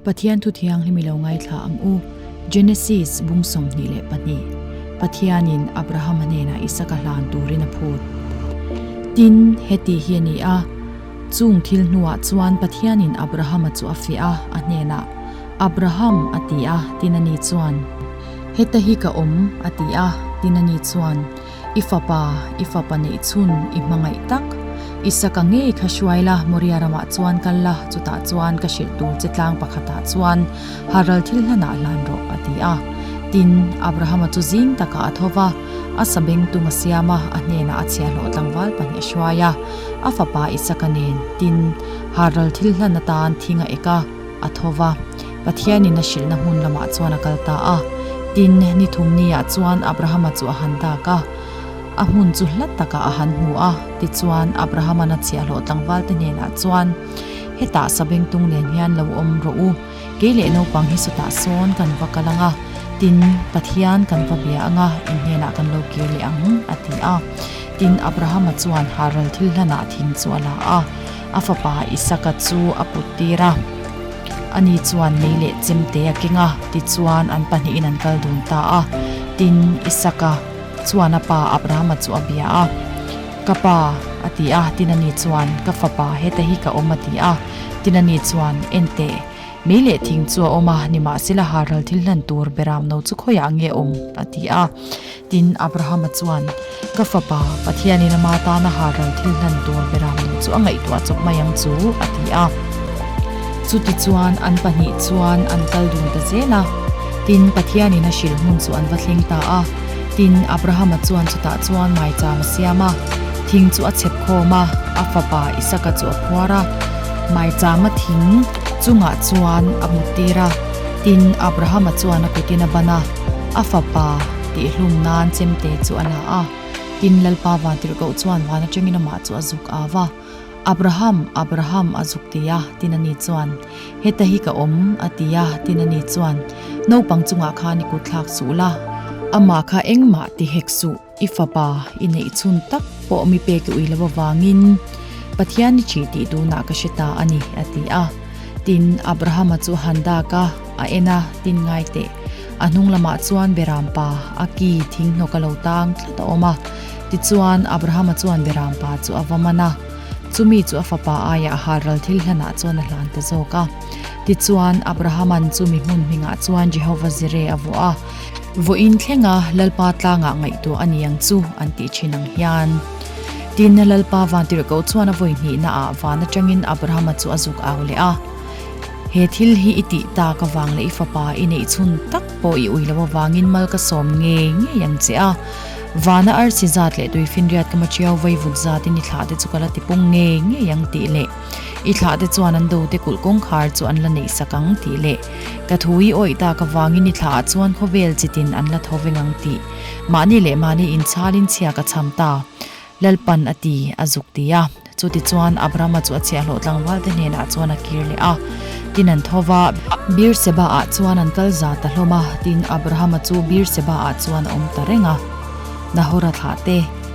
Pathian Thu Thianghlim i lo ngaithla ang u, Genesis bung sawmhnih leh pahnih. Pathianin Abrahama hnenah Isaka hlan turin a phut. Tin, heti hi a ni a, Chung thil hnuah chuan Pathianin Abrahama chu a fiah a, a hnenah, Abraham, a ti a, tin ani chuan, Heta hi ka awm, a ti a, tin ani chuan. I fapa, i fapa neih chhun i hmangaih tak. Isaka ngei kha hruai la, Moria ramah chuan kal la, chutah chuan ka hrilh tur che tlang pakhatah chuan Haral thil hlanah hlan rawh, a ti a. Tin, Abrahama chu zing takah a tho va, a sa beng tung a siam a, a hnenah a chhia hlawh tlangval pahnih a hruai a. A fapa Isaka nen, tin, Haral thil hlan atan thing a ek a. a tho va, Pathianin a hrilhna hmun lamah chuan a kal ta a. Tin, ni thum niah chuan Abrahama chu a han dak a, a hmun chu hla takah a han hmu a. Tichuan, Abrahaman a chhiahhlawh tlangvalte hnenah chuan, Hetah sabengtung nen hian lo awm rawh u, kei leh naupang hi sawtah sawn kan va kal ang a, tin, Pathian kan va bia ang a, in hnenah kan lo kir leh ang, a ti a. Tin, Abrahama chuan Haran thil hlanah thing chu a la a. A fapa Isaka chu a put tir a, Ani chuan mei leh chem te a keng a, tichuan an pahnihin an kal dun ta a. Tin, Isaka chuan a pa Abrahama chu a bia a, Ka pa, a ti a. Tin, ani chuan, Ka fapa, heta hi ka awm, a ti a. Tin, ani chuan, Enteh, mei leh thing chu a awm a, nimahsela, harhal thil hlan tur Beramno chu khawiah ange awm? a ti a. Tin, Abrahama chuan, Ka fapa, Pathianin ama tana harral thil hlan tur Beram duh chu a ngaihtuah chawp mai ang chu, a ti a. Chutichuan an pahnih chuan an kal dun ta zel a. Tin, Pathianin a hrilh hmun chu an va thleng ta a. Tin, Abrahama chuan chutah chuan maichang a siam a, thing chu a chhep khawm a, a fapa Isaka chu a phuar a, maichanga thing chungah chuan a muttir a, tin, Abrahama chuan a kutin a ban a. A fapa tih hlum nan chemte chu a la a, tin Lalpa vang tirh koh chuan van atangin amah chu a zuk au a. Abraham, Abraham a zuk ti a, tin a ni chuan. Heta hi ka awm a ti a, tin a ni chuan. Naupang chungah khan i kutthlak suh la, amah kha engmah ti hek suh. I fapa i neih chhun tak pawh mi pek i ui lo avangin Pathian i thih tih tunah ka hre ta a ni, a ti a. Tin, Abrahama chu a han dak a, a en a, tin ngai teh. A hnung lamah chuan Beram pa a ki thing hnawk a lo tang tlat a awm a. Tichuan, Abrahama chuan Beram pa chu a va man a. Chumi chu a fapa aiah Haral thil hlanah chuan a hlan ta zawk a. Tichuan, Abrahaman chu mi hmunhmingah chuan Jehova zire a vuah a. vawiin thlenga Lalpa tlangah ngaihtuah a ni ang chu an tih thin ang hian. Tinna Lalpa vantir ko chuan a vawi hnihna ah van atangin Abrahama chu a zuk au leh a, He thil hi i tih ta ka vang leh i fapa i neih chhun tak pawh i ui lo avangin mal ka sawm ngei ngei ang che a, vana arsi zat leh tui finriat ka ma ṭiau vaivut zatin i thlah te chu ka la ti pung ngei ngei ang tih leh. I thlah te chuan an do te kulh kawngkhar chu an la neih sak ang tih leh ka thu i awih tak avangin i thlah ah chuan khawvel chit in an la tho veng ang tih mahni leh mahni in chhal in chhiak a chham ta Lalpan a ti a zuk ti a chuti chuan Abrama chu a chhiah hlawh tlangval te hnenah chuan a kir leh a tin an tho va Beerseba ah chuan an kal za ta hlawm a tin Abrahama chu Beerseba ah chuan a awm ta reng a Nahora thlah te.